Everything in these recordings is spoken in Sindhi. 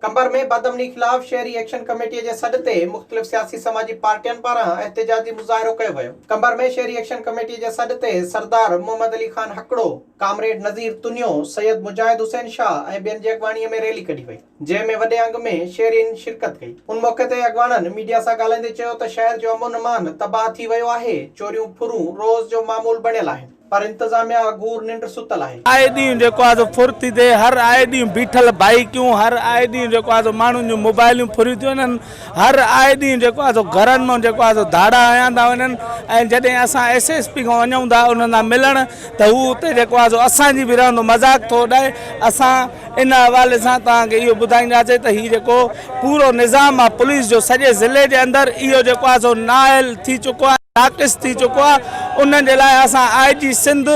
قمبر ۾ بدامني خلاف شهري ايڪشن ڪميٽي جي سڏ تي مختلف سياسي سماجي پارٽين پاران احتجاجي مظاهرو ڪيو ويو. قمبر ۾ شهري ايڪشن ڪميٽي جي سڏ تي سردار محمد علي خان هڪڙو، ڪامريڊ نذير تنيو، سيد مجاهد حسين شاهه ۽ ٻين جي اڳواڻي ۾ ريلي ڪڍي وئي، جنهن ۾ وڏي انگ ۾ شهرين شرڪت ڪئي. ان موقعي تي اڳواڻن ميڊيا سان ڳالهائيندي چيو ته شهر جو امن امان تباهه ٿي ويو آهي، چوريون ڦرون روز جو معمول بڻيل آهن. پر انتظاميا اگهور ننڊ ستل آهي. آء ڏينهن جيڪو آهي سو ڦر ٿي ٿئي، هر آء ڏينهن بيٺل بائيڪيون، هر آء ڏينهن جيڪو آهي سو ماڻهن جون موبائليون ڦريون ٿيون وڃن، هر آء ڏينهن جيڪو آهي سو گهرن مان جيڪو آهي سو ڌاڙا هنيا ٿا وڃن ۽ جڏهن اسان ايس ايس پي کان وڃون ٿا انهن سان ملڻ ته هو اتي جيڪو آهي سو اسان جي به رهندو مذاق ٿو اڏائي، اسان ان حوالي سان توهان کي اهو ٻڌائينداسين ته هي جيڪو پورو نظام آهي پوليس جو سڄي ضلعي جي اندر اهو جيڪو آهي سو نااهل ٿي چڪو آهي ناقص ٿي چڪو آهي ان جي لاء اسان آء جي سنڌ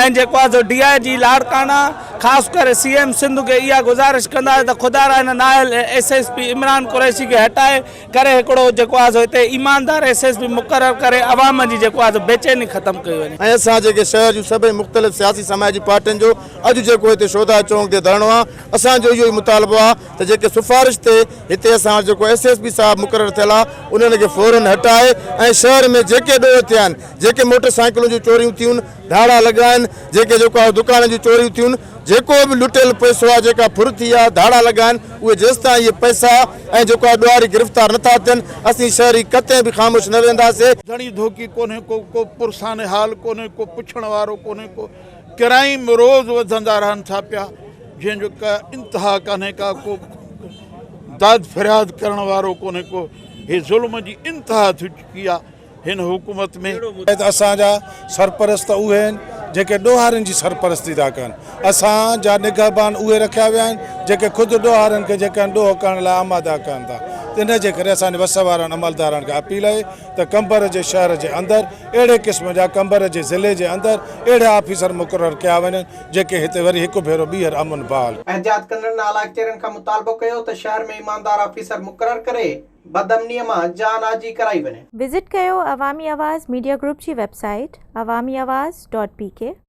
۽ جيڪو آهي سو ڊي آء جي لاڙڪاڻا خاص ڪري سي ايم سنڌ کي اها گذارش ڪنداسين ته خدارا هن نااهل S S P Imran Qureshi کي هٽائي ڪري هڪڙو جيڪو آهي سو هتي ايماندار ايس ايس پي مقرر ڪري عوام جي جيڪو آهي سو بيچيني ختم ڪئي وڃي. ۽ اسان جيڪي شهر جون سڀئي مختلف سياسي سماجي پارٽين جو اڄ جيڪو هتي شهداء چونڪ تي ڌرڻو آهي اسان جو اهو ئي مطالبو آهي ته جيڪي سفارش تي هتي اسان وٽ جيڪو ايس ايس پي صاحب مقرر ٿيل آهي انهن کي فورن هٽائي ۽ شهر ۾ جيڪي ڏوهه ٿيا آهن جيڪي موٽر سائيڪلون جون چوريون ٿيون ڌاڙا لڳا آهن جيڪي جيڪا دڪان جون چوريون ٿيون جيڪو به لٽيل پئسو آهي جيڪا ڦر ٿي آهي ڌاڙا لڳا آهن اهي جيستائين اهي پئسا ۽ جيڪا ڏوهاري گرفتار نٿا ٿين اسين شهري ڪتي به خاموش نه ويهنداسي. ڌڻي ڌوڪي ڪونهي ڪو ڪو پرسان حال ڪونهي ڪو پڇڻ وارو ڪونهي ڪو ڪرائيم روز وڌندا رهن ٿا پيا جنهن جو ڪا انتها ڪانهي ڪا ڪو داد فرياد ڪرڻ وارو ڪونهي ڪو هي ظلم جي انتها ٿي چڪي آهي هن حڪومت ۾ شايد اسان جا سرپرست اهي آهن جيڪي ڏوهارين جي سرپرستي ٿا ڪن. اسان جا نگهبان اهي رکيا ويا آهن جيڪي خود ڏوهارين کي جيڪي آهن ڏوهه ڪرڻ لاء آماده ڪن ٿا. ان جي ڪري اسان جي وس وارن عملدارن کي اپيل اهي ته قمبر جي شهر جي اندر اهڙي قسم جا قمبر جي ضلعي جي اندر اهڙا آفيسر مقرر ڪيا وڃن جيڪي هتي وري هڪ ڀيرو ٻيهر امن بحال احتجاج ڪندڙن اعليٰ اختيارين کان مطالبو ڪيو ته شهر ۾ ايماندار آفيسر مقرر ڪري. بد امنيء مان جان آجي ڪرائي وڃي. وزٽ ڪيو عوامي آواز ميڊيا گروپ جي website Awami Awaz dot P ڪي.